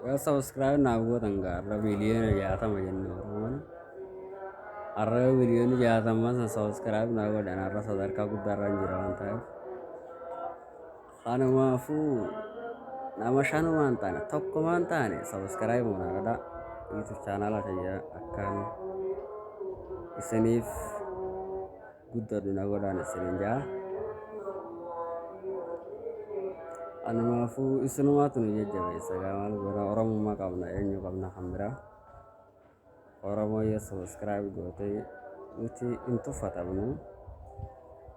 Yoo subscribe naaf gootan gaa har'a miliyoona jaatama jenna Oromoon. Har'a yoo miliyoonni jaatama san subscribe naaf godhan har'a sadarkaa guddaa irra hin jira waan ta'eef. Kanumaafuu nama shanumaan taane tokkumaan taane subscribe na godhaa. YouTube channel kiyya akkaan isiniif guddadhu na godhaan isinin jaa anumaafuu isinumaatu nu jajjabeessa gaa maal goona oromummaa qabna eenyu qabna kan biraa oromoo yoo sabiskiraayib goote nuti hin tuffatamnu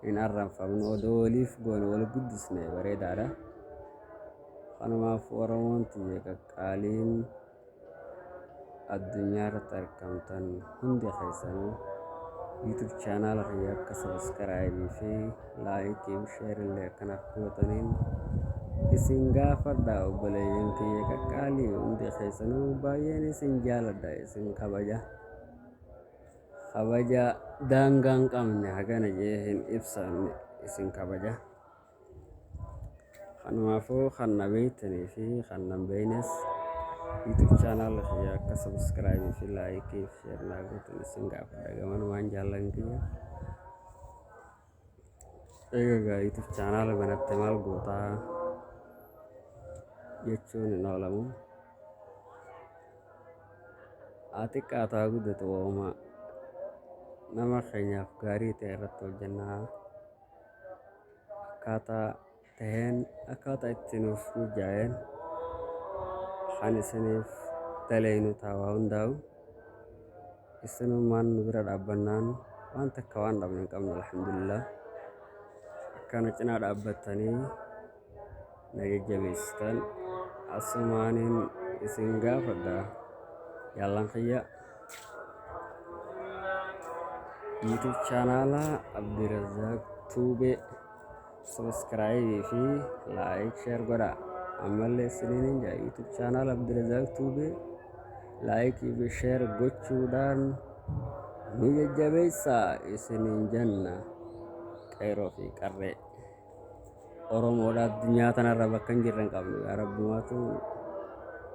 hin arranfamnu odoo waliif goone wal guddisne bareedaadha kanumaaf oromoon tiyya qaqqaaliin addunyaa irratti argamtan hundi keessanuu YouTube chaanaala kiyya akka sabiskiraayibii fi laayikii fi sheerillee akkanaaf gootaniin isin gaafadha obboleeyyan kiyya qaqqaalii hundi keessanuu baay'een isin jaaladha isin kabaja kabaja daangaa hin qabne hagana jee hin ibsamne isin kabaja. Kanumaafuu kan na beektanii fi kan nan beeknes YouTube channel kiyya akka subscribe fi like fi share naa gootan isin gaafadha gamanumaan jaallan kiyya. Egaa YouTube channel banatte maal gootaa jechuun hin oolamu. Haa xiqqaatu haa guddatu waa'uma nama keenyaaf gaarii ta'e irratti hojjennaa. akkaataa taheen akkaataa itti nuuf mijaa'een kan isiniif daleeynu ta'a waa hundaa'u isinummaan nu bira dhaabbannaan waan takka waan dhabne hin qabnu alhamdulillah akkana cinaa dhaabbattanii na jajjabeessitan asumaanin isin gaafadha yaallan kiyya YouTube chaanaala Abdirazaaq Tuube subscribe fi like share godha ammallee isiniin jaa YouTube chaanaala Abdirazaaq Tuube like fi share gochuudhaan nu jajjabeessa isiniin janna qeeroo fi qarree. Oromoodha addunyaa tanarra bakka hin jirre hin qabnu yaa rabbumaatu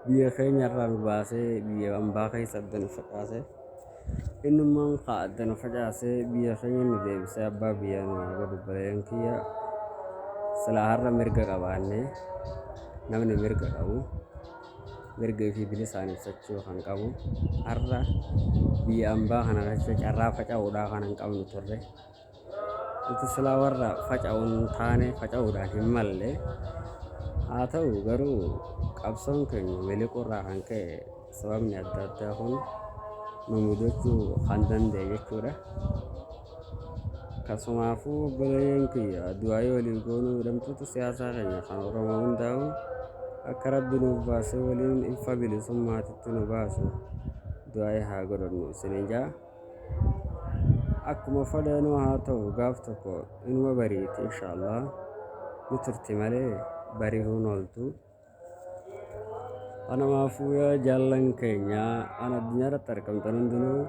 biyya keenya irraa nu baasee biyya ambaa keessa adda nu facaase innummaan kaa adda nu facaase biyya keenya nu deebisee abbaa biyya nu haa godhu baleen kiyya silaa har'a mirga qabaanne namni mirga qabu mirga fi bilisaan ibsachuu kan qabu har'a biyya ambaa kana keessa carraa faca'uudhaa kan hin qabnu turre. Nuti silaa warra faca'u hin taane, faca'uudhaan hin malle. Haa ta'u garuu qabsoon keenya miliquurraa kan ka'e sababni adda addaa kun nu mudachuu kan danda'e jechuudha. Kasumaafuu obboleeyyan kiyya du'aayii waliin goonuu hidhamtoota siyaasaa keenya kan Oromoo hundaa'u akka rabbi nuuf baasee waliin ifa bilisummaatitti nu baasu du'aayii haa godhannu isiniin ja'a. akkuma fadha nu haa ta'u gaaf tokko inuma bariiti inshaallah ni turti malee bariruun ooltu kanamaafuu yaa jaallan keenya an addunyaarratti argamtan hundinuu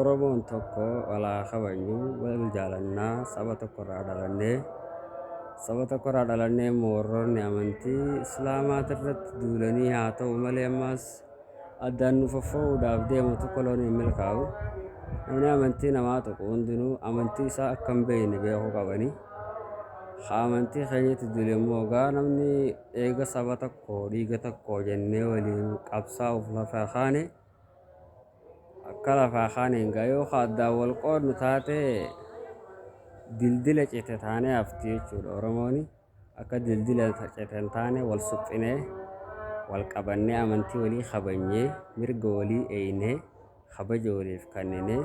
oromoon tokko walaa kabajnu wal jaalannaa saba tokkorraa dhalannee saba tokkorraa dhalannee immoo warroonni amantii islaamaatirratti duulanii haa ta'u malee ammaas Addaan nu foffoo'uudhaaf deemutu koloon hin milkaa'u. Namni amantii namaa tuqu hundinuu amantii isaa akka hin beekne beekuu qabani. Haa amantii keenyatti duli immoo gaa namni eega saba tokko dhiiga tokko jennee waliin qabsaa'uuf lafaa kaane akka lafaa kaaneen gaa yoo ka addaan wal qoodnu taate dildila cite taanee hafti jechuudha Oromooni. Akka dildila cite hin taane wal suphinee, wal qabannee amantii walii kabajnee, mirga walii eeynee, kabaja waliif kanninee,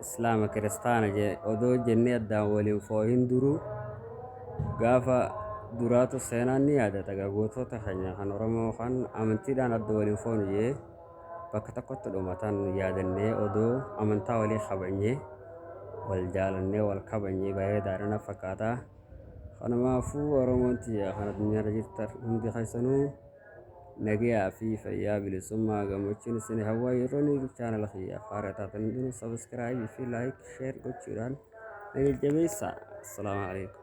Islaama Kiristaana odoo jennee addaan wal hin foohin duruu, gaafa duraatu seenaan ni yaadata gaa gootoota keenya kan Oromoo kan amantiidhaan adda wal hin foonu jee bakka tokkotti dhumatan yaadannee odoo amantaa walii kabajnee, wal jaalannee, wal kabajnee bareedaadha na fakkaata. Kanumaafuu Oromoon tiyya kan addunyaarra jirtan hundi keessanuu nagayaa fi fayyaa bilisummaa gammachuun isin hawwaa yeroo ni YouTube channel kiyyaaf haaraa taatan hundinuu subscribe fi like share gochuudhaan na jajjabeessaa. Assalaamu alaikum.